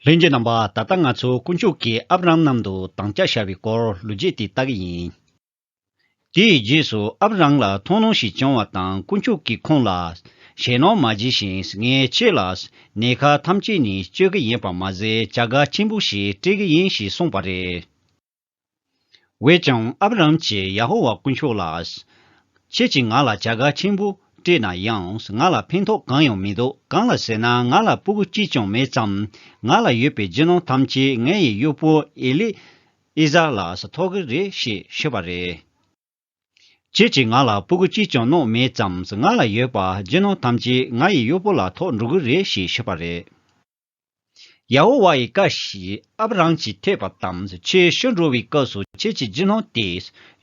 ལྷན་རྒྱས་རྣམ་པ་ད་ལྟ་ང་ཚོ་དཀོན་མཆོག་གིས་ཨབ་རམ་ནམ་དུ་འདང་རྒྱག་བྱ་བའི་སྐོར་ལོ་རྒྱས་དེ་ལྟ་གི་ཡིན། དེའི་རྗེས་སུ་ཨབ་རམ་ལ་མཐོང་སྣང་ཞིག་བྱུང་བ་དང་དཀོན་མཆོག་གིས་ཁོང་ལ། ཞེ་སྣང་མ་བགྱིས་ཤིང་ངས་ཁྱེད་ལ་ནད་ཁ་ཐམས་ཅད་ནས་བཅོས་ཀྱི་ཡིན་པར་མ་ཟད་བྱ་དགའ་ཆེན་པོ་ཞིག་སྤྲད་ཀྱི་ཡིན་ཞེས་གསུངས་པ་རེད། བས་ཀྱང་ཨབ་ར་ཧམ་གྱིས་ཡ་ཧོ་ཝཱ་དཀོན་མཆོག་ལ། ཁྱེད་ཀྱིས་ང་ལ་བྱ་དགའ་ཆེན་པོ་སྤྲད་ན་ཡང་ང་ལ་ཕན་ཐོགས་གང་ཡང་མི་འདུག་གང་ལ་ཟེར་ན་ང་ལ་སྤུ་གུ་གཅིག་ཀྱང་མེད་ཙམ། ང་ལ་ཡོད་པའི་རྒྱུ་ནོར་ཐམས་ཅད་ངའི་གཡོག་པོ་ཨེ་ལི་ཨེ་ཛར་ལ་ཐོགས་ཀྱི་རེད་ཞེས་ཞུས་པ་རེད། ཁྱེད་ཀྱིས་ང་ལ་སྤུ་གུ་གཅིག་ཀྱང་བསྣོགས་མེད་ཙམ་ང་ལ་ཡོད་པ་རྒྱུ་ནོར་ཐམས་ཅད་ང་ཡི་གཡོག་པོ་ལ་ཐོགས་འགྲོ་གི་རེད་ཞེས་ཞུས་པ་རེད། ཡ་ཧོ་ཝཱ་ཡི་བཀའ་བཞིན་ཨབ་རམ་གྱིས་ཐོས་པ་དང་ཁྱོད་ཤི་འགྲོ་བའི་སྐབས་སུ་ཁྱེད་ཀྱི་འཇིགས་སྣང་དེ་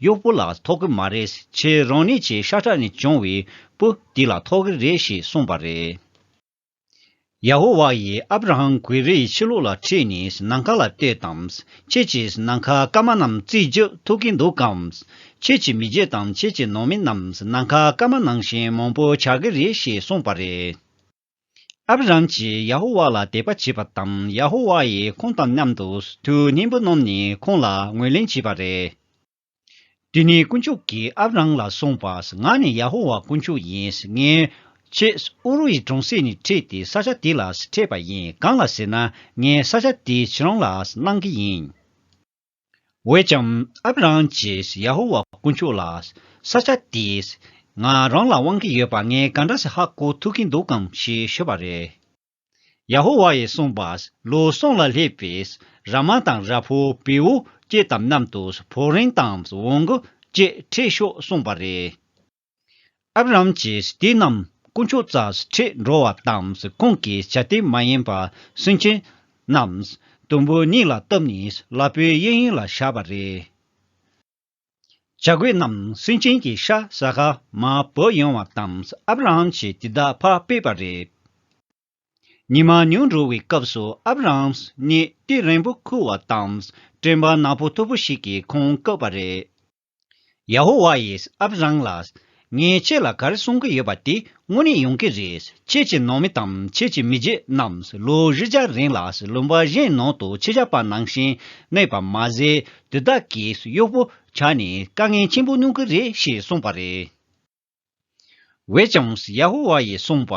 གཡོག་པོ་ལ་ཐོགས་གི་མ་རེད་ཁྱེད་རང་ནི་ཁྱེད་ཤ་ཁྲག་ནས་བྱུང་བའི་བུ་དེ་ལ་ཐོགས་གི་རེད་ཞེས་གསུངས་པ་རེད། ཡ་ཧོ་ཝཱ་ཡིས་ཨབ་རམ་གུས་རི་ཡི་ཕྱི་ལོགས་ལ་ཁྲིད་ནས་ནམ་མཁའ་ལ་ལྟོས་དང། ཁྱེད་ཀྱིས་ནམ་མཁའ་སྐར་མ་རྣམས་བརྩིས་རྒྱུ་ཐུག་གི་འདུག་གམ། ཁྱེད་ཀྱི་མི་རྒྱུད་དང་ཁྱེད་ཀྱི་ནང་མི་རྣམས་ནམ་མཁའ་སྐར་མ་ནང་བཞིན་མང་པོ་ཆགས་ཀྱི་རེད་ཞེས་གསུངས་པ་རེད། ཨབ་རམ་གྱིས་ཡ་ཧོ་ཝཱ་ལ་དད་པ་བྱས་པ་དང་ཡ་ཧོ་ཝཱ་ཡིས་ཁོང་དང་མཉམ་དུ་དུས་སྙིང་པོ་བསྣོམས་ནས་ཁོང་ལ་ངོས་ལེན་བྱས་པ་རེད། དེ་ནས་དཀོན་མཆོག་གིས་ཨབ་རམ་ལ་གསུངས་པ། ང་ནི་ཡ་ཧོ་ཝཱ་དཀོན་མཆོག་ཡིན། ངས། ཁྱེད་ཨུ་རུ་ཡི་གྲོང་གསེབ་ནས་ཁྲིད་དེ་ས་ཆ་དེ་ལ་འཕྲད་པ་ཡིན་གང་ལ་ཟེར་ན་ངས་ས་ཆ་དེ་ཁྱེད་རང་ལ་གནང་གི་ཡིན། འོད་ཀྱང་ཨབ་རམ་གྱིས་ཡ་ཧོ་ཝཱ་དཀོན་མཆོག་ལ། ས་ཆ་དེས་ང་རང་ལ་དབང་གི་ཡོད་པ་ངས་ག་འདྲ་ཞིག་ཧ་གོ་ཐུབ་ཀྱི་འདུག་གམ་ཞེས་ཤོད་པ་རེད། ཡ་ཧོ་ཝཱ་ཡིས་གསུངས་པ། ལུས་ཟུངས་ལ་སླེབས་པའི་ར་མ་དང་ར་ཕོ་བེའུ་སྐྱེས་དམ་རྣམས་དུ་ཕོ་རིང་དང་བོང་གུ་སྐྱེས་ཁྲིད་ཤོག་གསུངས་པ་རེད། ཨབ་རམ་གྱིས་དེ་རྣམས་དཀོན་མཆོག་རྩར་ཁྲིད་འགྲོ་བ་དང་ཁོང་གིས་བྱ་དེ་མ་ཡིན་པར་སུན་འབྱིན་རྣམས་དུམ་བུ་གཉིས་ལ་བཏབ་ནས་ལ་པོའི་གཡས་གཡོན་ལ་བཞག་པ་རེད། བྱ་རྒོད་རྣམས་སུན་འབྱིན་གྱི་ཤ་ཟ་ཁ་མ་བོར་ཡོང་བ་དང་ཨབ་རམ་གྱིས་དེ་དག་ཕར་སྤོས་པ་རེད། ཉི་མ་ཉུང་འགྲོ་བའི་སྐབས་སུ་ཨབ་རམ་སྙེད་ཏིལ་རིང་པོ་ཁུར་བ་དང་སྤྲིན་པ་ནག་པོ་མཐུག་པོ་ཞིག་གིས་ཁོང་བཀག་པ་རེད། ཡ་ཧོ་ཝཱ་ཡིས་ཨབ་རམ་ལ། ངས་ཁྱེད་ལ་གར་གསུང་གི་ཡོད་པ་དེ་དངོས་གནས་ཡོང་གི་རེད། ཁྱེད་ཀྱི་ནང་མི་དང་ཁྱེད་ཀྱི་མི་རྗེ་རྣམས་ལོ་བཞི་བརྒྱ་རིང་ལ་ལུང་པ་གཞན་ནང་དུ་ཁྱི་ཞགས་པ་ནང་བཞིན་གནས་པ་མ་ཟད་དུས་བདག་གིས་གཡོག་པོ་བྱ་ནས་དཀའ་ངལ་ཆེན་པོ་མྱོང་གི་རེད་ཞེས་གསུངས་པ་རེད། བས་ཀྱང་ཡ་ཧོ་ཝཱ་ཡིས་གསུངས་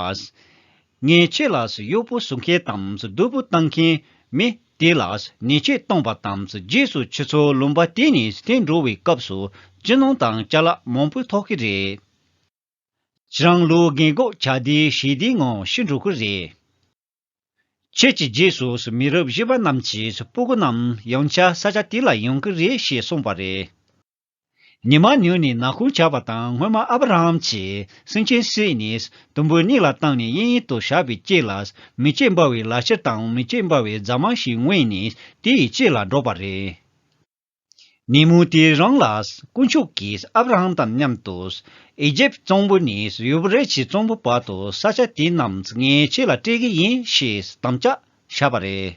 པ། ངས་ཁྱོད་ལ་གཡོག་པོ་བཟོ་མཁན་དང་སྡུག་པོ་བཏང་མཁན་མི་དེ་ལ་ནས་ཆོས་བཏང་བ་དང་རྗེས་སུ་ཁྱོད་ཚོ་ལུང་པ་དེ་ནས་དེ་འགྲོ་བའི་སྐབས་སུ་ཅི་ནང་དང་རྐྱ་ལག་མང་པོ་ཐོགས་ཀྱི་རེད། ཁྱེད་རང་ལོ་རྒན་གོག་བྱ་དེ་ཞེ་དེའི་ངང་ཤི་འགྲོ་གི་རེད། ཁྱོད་ཀྱི་རྗེས་སུ་མི་རབས་བཞི་པ་རྣམས་ཀྱི་སྤུ་གུ་རྣམས་ཡང་བྱ་ས་ཆ་དེ་ལ་ཡོང་གི་རེད་ཞེས་གསུངས་པ་རེད། ཉི་མ་ཉུལ་ནས་ནག་ཁུང་བྱ་བ་དང་སྔོན་མ་ཨ་བྷ་ར་ཧམ་གྱིས་སེང་ཆེན་བསྲེགས་ནས་དུམ་བུའི་སྙིང་ལ་བཏང་ནས་དབྱིན་ཡིག་ཏུ་བཞག་པའི་དཀྱིལ་ལ་མི་སྐྱེ་འབར་བའི་ལ་ཕྱིར་དང་མི་སྐྱེ་འབར་བའི་རྫ་མ་ཞིག་དབེན་ནས་དེ་ཡི་དཀྱིལ་ལ་འགྲོགས་པ་རེད། ཉིན་མོ་དེ་རིང་ལ་དཀོན་མཆོག་གིས་ཨ་བྷ་ར་ཧམ་དང་མཉམ་དུ་ཨི་ཇེབ་གཙང་པོ་ནས་ཡུ་བི་རད་ཀྱི་གཙང་པོའི་བར་དུ་ས་ཆ་དེ་རྣམས་ངའི་ཆེད་ལ་སྤྲད་ཀྱི་ཡིན་ཞེས་དམ་བཅའ་བཞག་པ་རེད།